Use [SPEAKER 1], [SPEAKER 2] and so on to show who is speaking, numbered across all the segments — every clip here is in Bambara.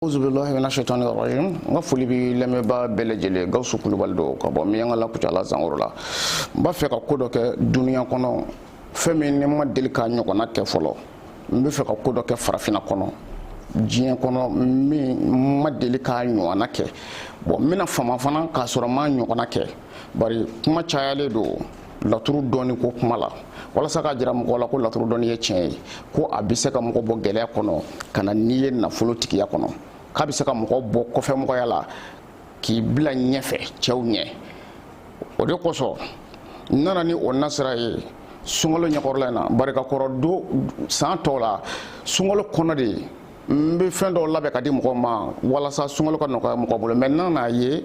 [SPEAKER 1] n ka foli bɛ lamɛnbaa bɛɛ lajɛlen gawusu kulubali don ka bɔ miɲankala kucala zankoro la n b'a fɛ ka ko dɔ kɛ duniya kɔnɔ fɛn min ne ma deli k'a ɲɔgɔnna kɛ fɔlɔ n bɛ fɛ ka ko dɔ kɛ farafinna kɔnɔ diɲɛ kɔnɔ min ma deli k'a ɲɔgɔnna kɛ bɔn n bɛna fama fana k'a sɔrɔ n m'a ɲɔgɔnna kɛ bari kuma cayalen don laturu dɔnni ko kuma la walasa k'a jira mɔgɔ la ko laturu dɔnni ye tiɲɛ ye ko a bɛ se ka mɔgɔ bɔ gɛlɛya kɔnɔ ka na n'i ye nafolo tigiya kɔnɔ k'a bɛ se ka mɔgɔ bɔ kɔfɛmɔgɔya la k'i bila ɲɛfɛ cɛw ɲɛ o de kosɔn n nana ni o nasira ye sunkalo ɲɛkɔrɔla in na bari kakɔrɔ don san tɔw la sunkalo kɔnɔ de n bɛ fɛn dɔw labɛn ka di mɔgɔw ma walasa sunkalo ka nɔgɔya mɔgɔ bolo mɛ n'a n'a ye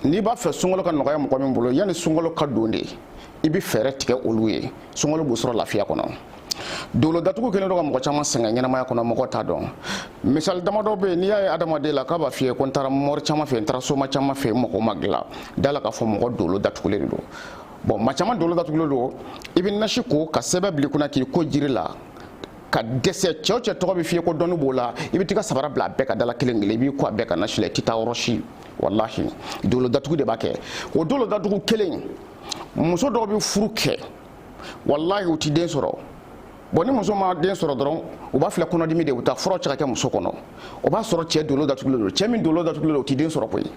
[SPEAKER 1] n'i b'a fɛ sunkalo ka nɔgɔya mɔgɔ min bolo yanni sunkalo ka don de i bɛ fɛɛrɛ tigɛ olu ye sunkalo b'u sɔrɔ lafiya kɔnɔ dolo datugu kɛlen don ka mɔgɔ caman sɛgɛn ɲɛnamaya kɔnɔ mɔgɔ t'a dɔn misali damadɔ bɛ yen n'i y'a ye adamaden la k'a b'a f'i ye ko n taara mɔri caman fɛ n taara soma caman fɛ mɔgɔ ma dilan da la k'a fɔ mɔgɔ dolo datugulen de don bɔn maa caman dolo datugulen don i bɛ nasi ko ka sɛbɛn bil'i kunna k'i ko jiri la ka dɛsɛ cɛ o cɛ tɔgɔ bɛ f'i ye ko dɔnni b'o la i bɛ t'i ka sabara bila a bɛɛ ka da la kelen kelen i b'i ko a bɛɛ ka nasi la i tɛ taa yɔrɔ si walahi dolo datugu de b'a kɛ o dolo datugu kelen muso dɔw bɛ furu kɛ walahi u ti den sɔrɔ bɔn ni muso ma den sɔrɔ dɔrɔn u b'a filɛ kɔnɔdimi de u taa furaw cɛ ka kɛ muso kɔnɔ o b'a sɔrɔ cɛ dolo datugulen don cɛ min dolo datugulen don o ti den sɔrɔ koyi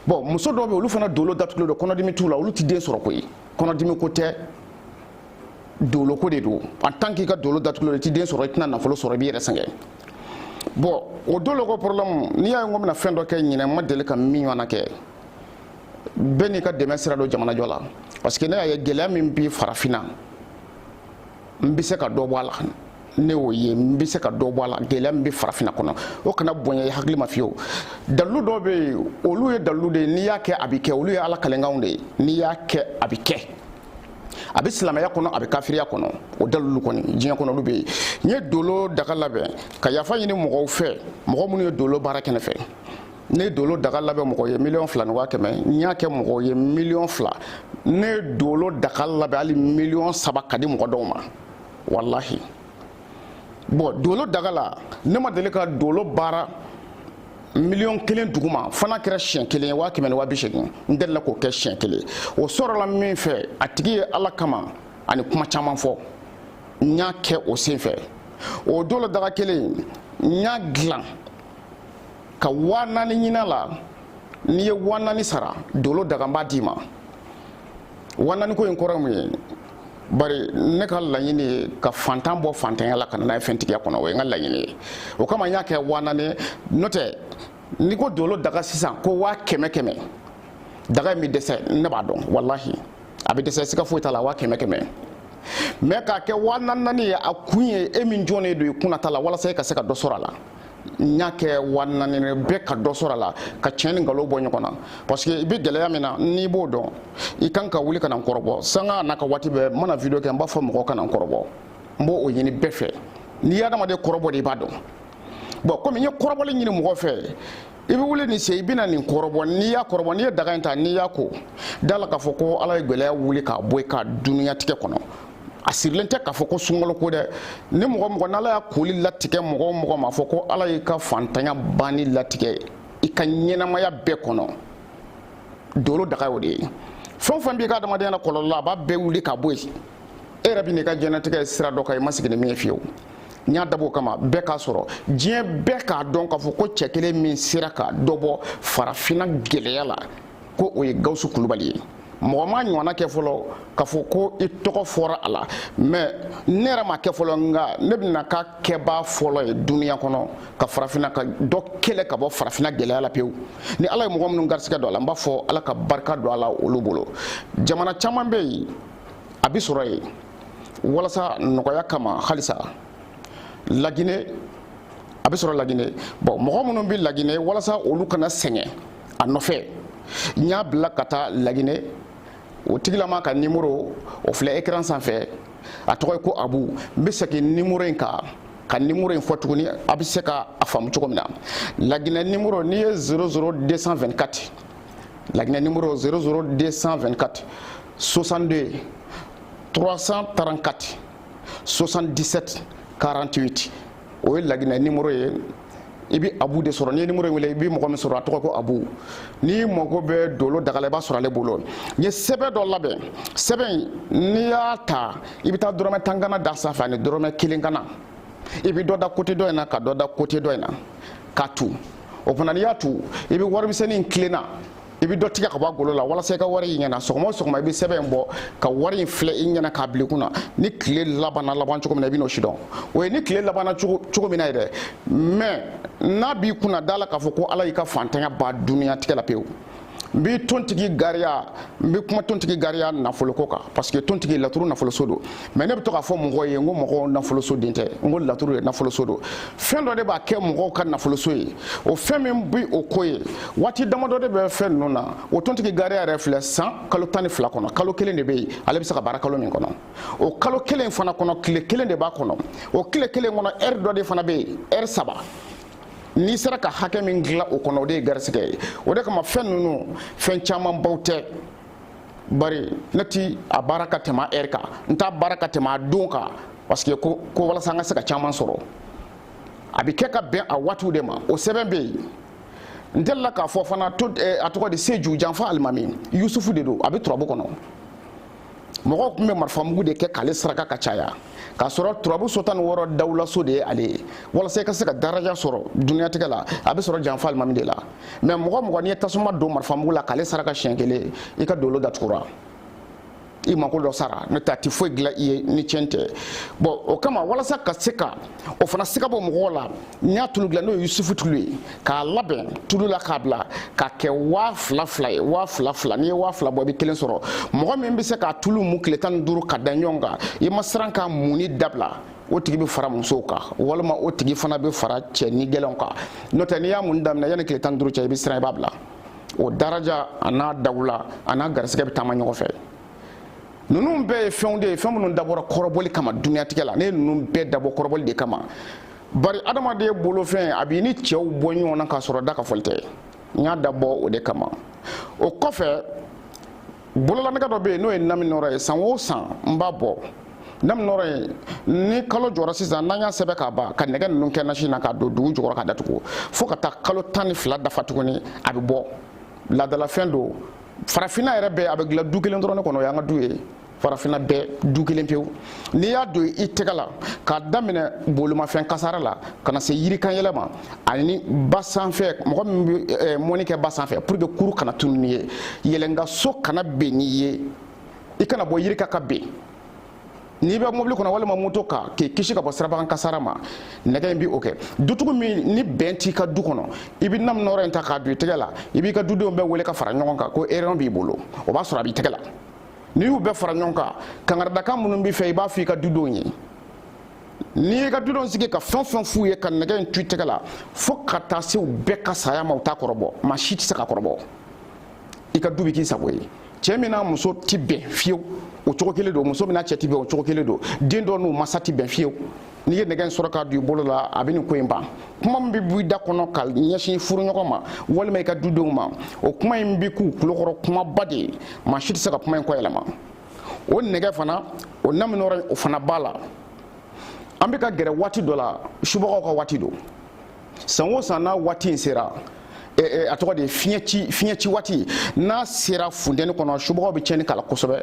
[SPEAKER 1] bɔn muso dɔw bɛ olu fana dolo datugulen don kɔnɔdimi t'u la olu ti den sɔrɔ koyi kɔnɔdimi ko tɛ doloko de don en tant k'i ka dolo datugulen don i ti den sɔrɔ i tɛna nafolo sɔrɔ i b'i yɛrɛ sɛgɛn bɔn o doloko problème n'i y'a ye n ko n bɛna fɛn dɔ kɛ ɲinɛ n ma deli ka min ɲɔgɔnna kɛ bɛɛ n'i ka dɛmɛ sira don jamanajɔ la parce que ne y'a ye gɛlɛya min bi farafinna n bɛ se ka dɔ bɔ a la ne y'o ye n bɛ se ka dɔ bɔ a la gɛlɛya min bɛ farafinna kɔnɔ o kana bonya i hakili ma fiyewu dalilu dɔw bɛ yen olu ye dalilu de ye n'i y'a kɛ a bɛ kɛ olu ye ala kalenkanw de ye n'i y'a kɛ a bɛ kɛ a bɛ silamɛya kɔnɔ a bɛ kafiriya kɔnɔ o dalilu kɔni diɲɛ kɔnɔ olu bɛ yen n ye dolo daga labɛn ka yafa ɲini mɔgɔw fɛ mɔgɔ minnu ye dolo baara kɛ ne fɛ ne ye dolo daga labɛn mɔgɔ ye miliyɔn fila ni waa kɛmɛ n y'a kɛ mɔgɔ ye miliyɔn fila ne ye dolo daga labɛn hali miliyɔn saba ka di mɔgɔ dɔw ma walahi bɔn dolo daga la ne ma deli ka dolo baara miliyɔn kelen duguma fo n'a kɛra siɲɛ kelen ye waa kɛmɛ ni waa bi seegin n delila k'o kɛ siɲɛ kelen o sɔrɔla min fɛ a tigi ye ala kama ani kuma caman fɔ n y'a kɛ o sen fɛ o dolo daga kelen n y'a dilan ka waa naani ɲin'a la n'i ye waa naani sara dolo daga n b'a d'i ma waa naani ko in kɔrɔ mun ye bari ne ka laɲini ye ka fantan bɔ fantanya la ka na n'a ye fɛntigiya kɔnɔ o ye n ka laɲini ye o kama n y'a kɛ waa naani n'o tɛ n'i ko dolo daga sisan ko waa kɛmɛ kɛmɛ daga in bɛ dɛsɛ ne b'a dɔn walahi a bɛ dɛsɛ siga foyi t'a la waa kɛmɛ kɛmɛ mɛ k'a kɛ waa naani ye a kun ye e min jɔnnen don i kunna ta la walasa e ka se ka dɔ sɔrɔ a la n y'a kɛ waa naani bɛɛ ka dɔ sɔrɔ a la ka tiɲɛ ni nkalon bɔ ɲɔgɔn na parce que i bɛ gɛlɛya min na n'i b'o dɔn i kan ka wuli ka na n kɔrɔbɔ sanga n'a ka waati bɛɛ n mana video kɛ n b'a fɔ mɔgɔw ka na n kɔrɔbɔ n b'o ɲini bɛɛ fɛ n'i ye adamaden kɔrɔbɔ de i b'a dɔn bon komi n ye kɔrɔbɔli ɲini mɔgɔ fɛ i bɛ wuli nin sen i bɛna nin kɔrɔbɔ n'i y'a kɔrɔbɔ n'i ye daga in ta n'i y'a ko da la k'a fɔ ko ala ye gɛlɛya wuli k'a bɔ i ka duniyatigɛ kɔnɔ a sirilen tɛ k'a fɔ ko sunkalo ko dɛ ni mɔgɔ mɔgɔ n'ala y'a koli latigɛ mɔgɔ o mɔgɔ ma fɔ ko ala y'i ka fantanya banni latigɛ i ka ɲɛnamaya bɛɛ kɔnɔ dolo daga y'o de ye fɛn o fɛn b'i ka adamadenya la kɔlɔlɔ la a b'a bɛɛ wuli ka bɔ yen e yɛrɛ bɛ n'i ka diɲɛnatigɛ sira dɔ kan i ma sigi ni min ye fiyewu n y'a dabɔ o kama bɛɛ k'a sɔrɔ diɲɛ bɛɛ k'a dɔn k'a fɔ ko cɛ kelen min sera ka dɔ bɔ farafinna gɛlɛya la ko o ye gawusu kulubali ye mɔgɔ m'a ɲɔgɔnna kɛ fɔlɔ k'a fɔ ko i tɔgɔ fɔra a la mɛ ne yɛrɛ m'a kɛ fɔlɔ nka ne bɛna k'a kɛbaa fɔlɔ ye duniya kɔnɔ ka farafinna ka dɔ kɛlɛ ka bɔ farafinna gɛlɛya la pewu ni ala ye mɔgɔ minnu garisigɛ don a la n b'a fɔ ala ka barika don a la olu bolo jamana caman bɛ yen a bɛ sɔrɔ yen walasa nɔgɔya kama halisa laginɛ a bɛ sɔrɔ laginɛ bon mɔgɔ minnu bɛ laginɛ walasa olu kana sɛgɛn a nɔfɛ n y'a bila ka taa laginɛ o tigilama ka nimoro o filɛ ekran sanfɛ a tɔgɔ ye ko abu n bɛ segin nimoro in kan ka nimoro in fɔ tuguni a bɛ se ka a faamu cogo min na laginɛ nimoro nin ye 00224 laginɛ nimoro 00224 62 334 77 48 o ye laginɛ nimoro ye i bɛ abu de sɔrɔ n'i ye nimoro in wele i bɛ mɔgɔ min sɔrɔ a tɔgɔ ko abu n'i mago bɛ dolo daga la i b'a sɔrɔ ale bolo n ye sɛbɛn dɔ labɛn sɛbɛn in n'i y'a ta i bɛ taa dɔrɔmɛ tan ganan da sanfɛ ani dɔrɔmɛ kelen ganan i bɛ dɔ da kote dɔ in na ka dɔ da kote dɔ in na k'a tu o fana n'i y'a tu i bɛ warimisɛnnin in tilenna i bɛ dɔ tigɛ ka bɔ a golo la walasa i ka wari y'i ɲɛna sɔgɔma o sɔgɔma i bɛ sɛbɛn in bɔ ka wari in filɛ i ɲɛna k'a bila i kunna ni tile labanna laban cogo min na i bɛ n'o sidɔn o ye ni tile labanna cogo min na yɛrɛ mɛ n'a b'i kunna da la k'a fɔ ko ala y'i ka fantanya ban duniyatigɛ la pewu n bɛ tontigi gariya n bɛ kuma tontigi gariya nafoloko kan parce que tontigi laturu nafoloso don mais ne bɛ to k'a fɔ mɔgɔw ye n ko mɔgɔw nafoloso de tɛ n ko laturu de nafoloso don fɛn dɔ de b'a kɛ mɔgɔw ka nafoloso ye o fɛn min bɛ o ko ye waati damadɔ de bɛ fɛn ninnu na o tontigi gariya yɛrɛ filɛ san kalo tan ni fila kɔnɔ kalo kelen de bɛ yen ale bɛ se ka baara kalo min kɔnɔ o kalo kelen fana kɔnɔ tile kelen de b'a kɔnɔ o tile kelen kɔnɔ ɛri dɔ de fana bɛ yen ɛri saba n'i sera ka hakɛ min dilan o kɔnɔ o de ye garisigɛ ye o de kama fɛn ninnu fɛn camanbaw tɛ bari ne ti a baara ka tɛmɛ ɛri kan n t'a baara ka tɛmɛ a don kan parce que ko walasa an ka se ka caman sɔrɔ a bɛ kɛ ka bɛn a waatiw de ma o sɛbɛn bɛ yen n delila k'a fɔ fana to eh, a tɔgɔ de seju janfa alimami yusufu de don a bɛ turabu kɔnɔ mɔgɔw tun bɛ marifamugu de kɛ k'ale saraka ka caya k'a sɔrɔ turabu so tan ni wɔɔrɔ dawulaso de ye ale ye walasa i ka se ka daraja sɔrɔ duniyatigɛ la a bɛ sɔrɔ janfa alimami de la mais mɔgɔ o mɔgɔ n'i ye tasuma don marifamugu la k'ale saraka siɲɛ kelen i ka dolo datugura i mako dɔ sara n'o tɛ a tɛ foyi dilan i ye ni tiɲɛ tɛ bɔn o kama walasa ka se ka o fana siga bɔ mɔgɔw la n y'a tulu dilan n'o ye yusufu tulu ye k'a labɛn tulu la k'a bila k'a kɛ waa fila fila ye waa fila fila n'i ye waa fila bɔ i bɛ kelen sɔrɔ mɔgɔ min bɛ se k'a tulu mu tile tan ni duuru ka da ɲɔgɔn kan i ma siran k'a muni dabila o tigi bɛ fara musow kan walima o tigi fana bɛ fara cɛ nigɛlɛnw kan n'o tɛ n'i y'a muni daminɛ yanni tile tan ni duuru cɛ i bɛ siran i b'a bila o daraja a n'a dawula a n'a garisigɛ bɛ taama ɲɔgɔn fɛ ninnu bɛɛ ye fɛnw de ye fɛn minnu dabɔra kɔrɔbɔli kama duniyatigɛ la ne ye ninnu bɛɛ dabɔ kɔrɔbɔli de kama bari adamaden bolofɛn a b'i ni cɛw bɔ ɲɔgɔn na k'a sɔrɔ da ka fɔli tɛ n y'a dabɔ o de kama o kɔfɛ bololanɛgɛ dɔ bɛ yen n'o ye naminɔrɔ ye san o san n b'a bɔ naminɔrɔ ye ni kalo jɔra sisan n'an y'a sɛbɛn k'a ban ka nɛgɛ ninnu kɛ nasi na k'a don dugu jukɔrɔ k'a datugu fo ka taa kalo tan ni fila dafa tuguni a bɛ bɔ laadalafɛn don farafinna yɛrɛ bɛɛ a bɛ dilan du kelen dɔrɔn ne kɔnɔ o y'an ka du ye farafinna bɛɛ du kelen pewu n'i y'a don i tɛgɛ la k'a daminɛ bolimafɛn kasara la ka na se yirikanyɛlɛn ma ani ba sanfɛ mɔgɔ min bɛ eh, mɔni kɛ ba sanfɛ pour que kurun kana tunu n'i ye yɛlɛnkanso kana ben n'i ye i kana bɔ yiri kan ka ben n'i bɛ mobili kɔnɔ walima moto kan k'i kisi ka bɔ sirabakan kasara ma nɛgɛ in bi o kɛ dutigi min ni bɛn t'i ka du kɔnɔ i bɛ naminɔrɔ in ta k'a don i tɛgɛ la i b'i ka dudenw bɛɛ wele ka fara ɲɔgɔn kan ko réunion b'i bolo o b'a sɔrɔ a b'i tɛgɛ la n'i y'u bɛɛ fara ɲɔgɔn kan kankaridakan minnu b'i fɛ i b'a fɔ i ka dudenw ye n'i y'i ka dudenw sigi ka fɛn o fɛn f'u ye ka nɛgɛ in to i tɛgɛ la fo ka taa se u bɛɛ ka saya ma u t'a kɔrɔbɔ maa si tɛ se k'a kɔrɔbɔ i ka du bɛ k'i sago ye cɛ min n'a muso ti bɛn fiyewu o cogo kelen don muso min n'a cɛ ti bɛn o cogo kelen don den dɔ n'u masa ti bɛn fiyewu n'i ye nɛgɛ in sɔrɔ k'a don i bolo la a bɛ nin ko in ban kuma min bɛ bɔ i da kɔnɔ ka ɲɛsin furuɲɔgɔn ma walima i ka dudenw ma o kuma in bɛ k'u tulokɔrɔ kumaba de ye maa si tɛ se ka kuma in kɔ yɛlɛma o nɛgɛ fana o namini yɔrɔ o fana b'a la an bɛ ka gɛrɛ waati dɔ la subagaw ka waati don san o san n'a waati in sera a tɔgɔ de ye fiɲɛ ci fiɲɛ ci waati n'a sera funteni kɔnɔ subagaw bɛ tiɲɛni k'a la kosɛbɛ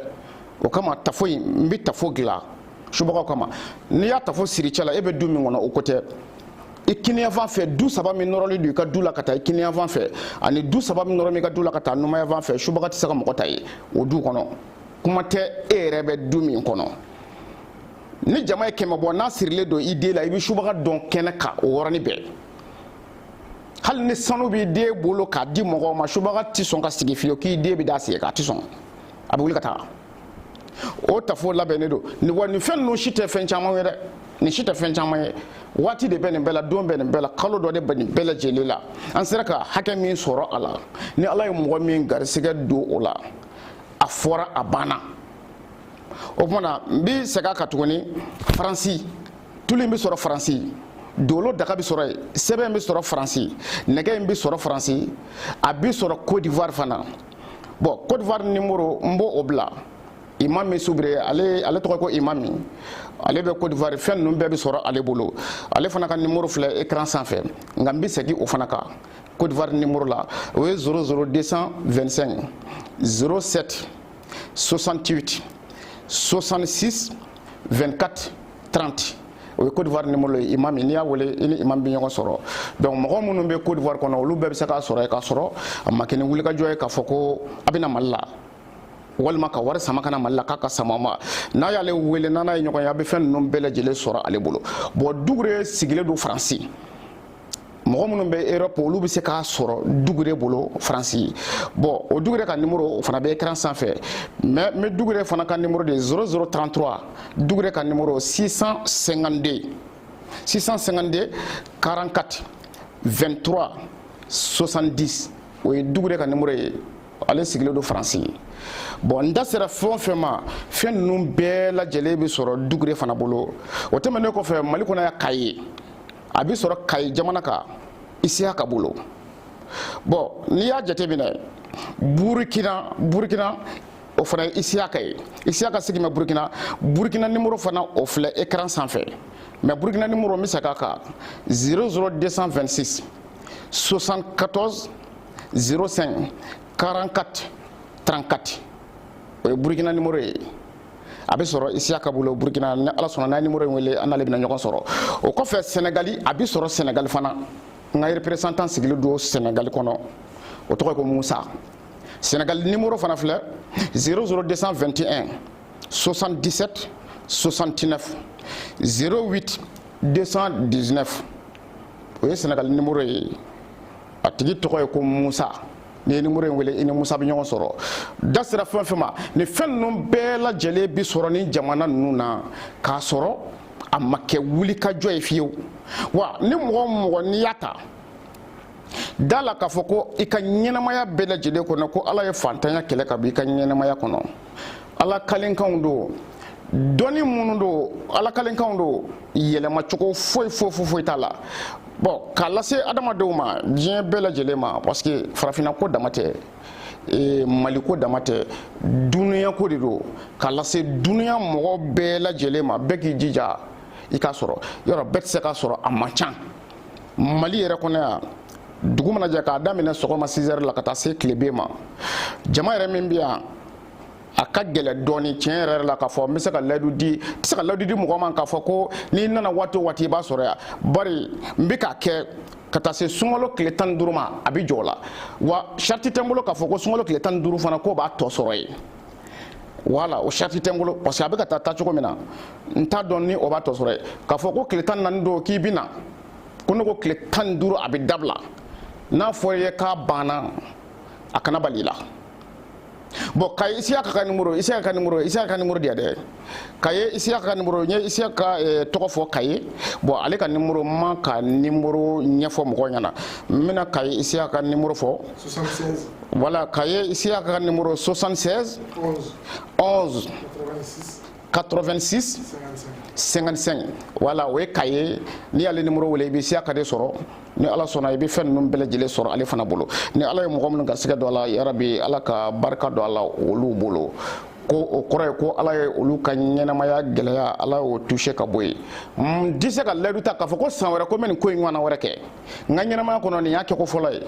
[SPEAKER 1] o kama tafo in n bɛ tafo dilan subagaw kama n'i y'a tafo siri i cɛ la e bɛ du min kɔnɔ o ko tɛ i kiniyanfan fɛ du saba min nɔrɔlen don i ka du la ka taa i kiniyanfan fɛ ani du saba min nɔrɔlen bɛ i ka du la ka taa numanyanfan fɛ subaga tɛ se ka mɔgɔ ta ye o du kɔnɔ kuma tɛ e yɛrɛ bɛ du min kɔnɔ ni jama ye kɛmɛ bɔ n'a sirilen don i den la i bɛ subaga dɔn kɛnɛ kan o yɔrɔnin bɛɛ hali ni sanu b'i den bolo k'a di mɔgɔw ma subaga tɛ sɔn ka sigi fiyewu k'i den bɛ d'a sen kan a tɛ sɔn a bɛ wuli ka taa o tafo labɛnnen don nin wa nin fɛn ninnu si tɛ fɛn caman ye dɛ nin si tɛ fɛn caman ye waati de bɛ nin bɛɛ la don bɛ nin bɛɛ la kalo dɔ de bɛ nin bɛɛ lajɛlen la an sera ka hakɛ min sɔrɔ a la ni ala ye mɔgɔ min garisigɛ don o la a fɔra a banna o tuma na n bɛ segin a kan tuguni faransi tulu in bɛ sɔrɔ faransi dolo daga bɛ sɔrɔ yen sɛbɛn in bɛ sɔrɔ faransi nɛgɛ in bɛ sɔrɔ faransi a bɛ sɔrɔ côte d'ivoire fana bon côte d'ivoire nimoro n b'o bila imami soubré ale ale tɔgɔ ko imami ale bɛ côte d'ivoire fɛn ninnu bɛɛ bɛ sɔrɔ ale bolo ale fana ka nimoro filɛ écran sanfɛ nka n bɛ segin o fana kan côte d'ivoire nimoro la o ye 00 225 07 68 66 24 30 o ye Côte d'Ivoire numéro ye imami n'i y'a wele i ni imam bɛ ɲɔgɔn sɔrɔ donc mɔgɔ minnu bɛ Côte d'Ivoire kɔnɔ olu bɛɛ bɛ se k'a sɔrɔ yen k'a sɔrɔ a ma kɛ ni wulikajɔ ye k'a fɔ ko a bɛ na Mali la walima ka wari sama ka na mali la k'a k'a sama a ma n'a y'ale wele n'a n'a ye ɲɔgɔn ye a bɛ fɛn ninnu bɛɛ lajɛlen sɔrɔ ale bolo bon dugure sigilen don faransi mɔgɔ minnu bɛ europe olu bɛ se k'a sɔrɔ dugure bolo faransi bon o dugure ka nimoro o fana bɛ écran sanfɛ mais dugure fana ka nimoro de 0033 dugure ka nimoro 652 44 23 70 o ye dugure ka nimoro ye ale sigilen don faransi bon n da sera fɛn o fɛn ma fɛn ninnu bɛɛ lajɛlen bɛ sɔrɔ dugure fana bolo o tɛmɛnen kɔfɛ mali kɔnɔ yan kayes a bɛ sɔrɔ kayi jamana kan isiyaka bolo bɔn n'i y'a jateminɛ burukina burukina o fana ye isiyaka ye isiyaka sigi bɛ burukina burukina nimoro fana o filɛ ekran sanfɛ mɛ burukina nimoro n bɛ segin a kan 00226 74 05 44 34 o ye burukina nimoro ye a bɛ sɔrɔ isiyaka bolo burkina ni ala sɔnna n'a ye nimoro in wele a n'ale bɛna ɲɔgɔn sɔrɔ o kɔfɛ sɛnɛgali a bɛ sɔrɔ sɛnɛgali fana n ka reperesantan sigilen don sɛnɛgali kɔnɔ o tɔgɔ ye ko musa sɛnɛgali nimoro fana filɛ 00 221 77 69 08 219 o ye sɛnɛgali nimoro ye a tigi tɔgɔ ye ko musa n'i ye nimoro in wele i ni musa bɛ ɲɔgɔn sɔrɔ da sera fɛn fɛn ma nin fɛn ninnu bɛɛ lajɛlen bi sɔrɔ nin jamana ninnu na k'a sɔrɔ a ma kɛ wulikajɔ ye fiyewu wa ni mɔgɔ o mɔgɔ n'i y'a ta da a la k'a fɔ ko i ka ɲɛnamaya bɛɛ lajɛlen kɔnɔ ko ala ye fantanya kɛlɛ ka bɔ i ka ɲɛnamaya kɔnɔ ala kalenkanw don dɔnni minnu don ala kalenkanw don yɛlɛma cogo foyi foyi foyi foyi t'a la bɔn k'a lase adamadenw ma diɲɛ bɛɛ lajɛlen ma parce que farafinna ko dama tɛ e, mali ko dama tɛ dunuya ko de don k'a lase dunuya mɔgɔ bɛɛ lajɛlen ma bɛɛ k'i jija i k'a sɔrɔ yɔrɔ bɛɛ tɛ se k'a sɔrɔ a man can mali yɛrɛ kɔnɔ yan dugu mana jɛ k'a daminɛ sɔgɔma 6 heures la ka taa se tilebin ma jama yɛrɛ min bɛ yan a ka gɛlɛn dɔɔni tiɲɛ yɛrɛ la k'a fɔ n bɛ se ka layidu di n tɛ se ka layidu di mɔgɔ ma k'a fɔ ko n'i nana waati o waati i b'a sɔrɔ yan bari n bɛ k'a kɛ ka taa se sunkalo tile tan ni duuru ma a bɛ jɔ o la wa sariti tɛ n bolo k'a fɔ ko sunkalo tile tan ni duuru fana k'o b'a tɔ sɔrɔ yen wala o sariti tɛ n bolo parce que a bɛ ka taa taa cogo min na n t'a dɔn ni o b'a tɔ sɔrɔ yen k'a fɔ ko tile tan naani don k'i bɛ na ko ne ko tile tan ni duuru a bɛ dabila n'a fɔra i ye k'a banna a kana bali i la bɔn kayi isiyaka ka nimoro isiyaka nimoro isiyaka nimoro di yan dɛ kayi isiyaka ka nimoro n ye isiyaka eh, tɔgɔ fɔ kayi bɔn ale ka nimoro n m'a ka nimoro ɲɛfɔ mɔgɔw ɲɛna n bɛna kayi isiyaka nimoro fɔ wala kayi isiyaka ka nimoro 76 11 86 55 wala o ye kayi n'i y'ale nimoro wele i bɛ isiyaka de sɔrɔ ni ala sɔnna i bɛ fɛn ninnu bɛɛ lajɛlen sɔrɔ ale fana bolo ni ala ye mɔgɔ minnu garisigɛ don a la yarabi ala ka barika don a la olu bolo ko o kɔrɔ ye ko ala ye olu ka ɲɛnamaya gɛlɛya ala y'o cɛ ka bɔ yen n tɛ se ka layidu ta k'a fɔ ko san wɛrɛ ko n bɛ nin ko in ɲɔgɔnna wɛrɛ kɛ n ka ɲɛnamaya kɔnɔ nin y'a kɛko fɔlɔ ye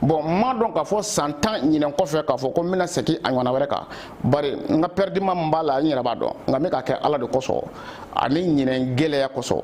[SPEAKER 1] bɔn n m'a dɔn k'a fɔ san tan ɲinɛn kɔfɛ k'a fɔ ko n bɛna segin a ɲɔgɔnna wɛrɛ kan bari n ka pɛridima min b'a la n yɛrɛ b'a dɔn nka n bɛ k'a kɛ ala de kosɔn ani ɲinɛn gɛlɛya kosɔn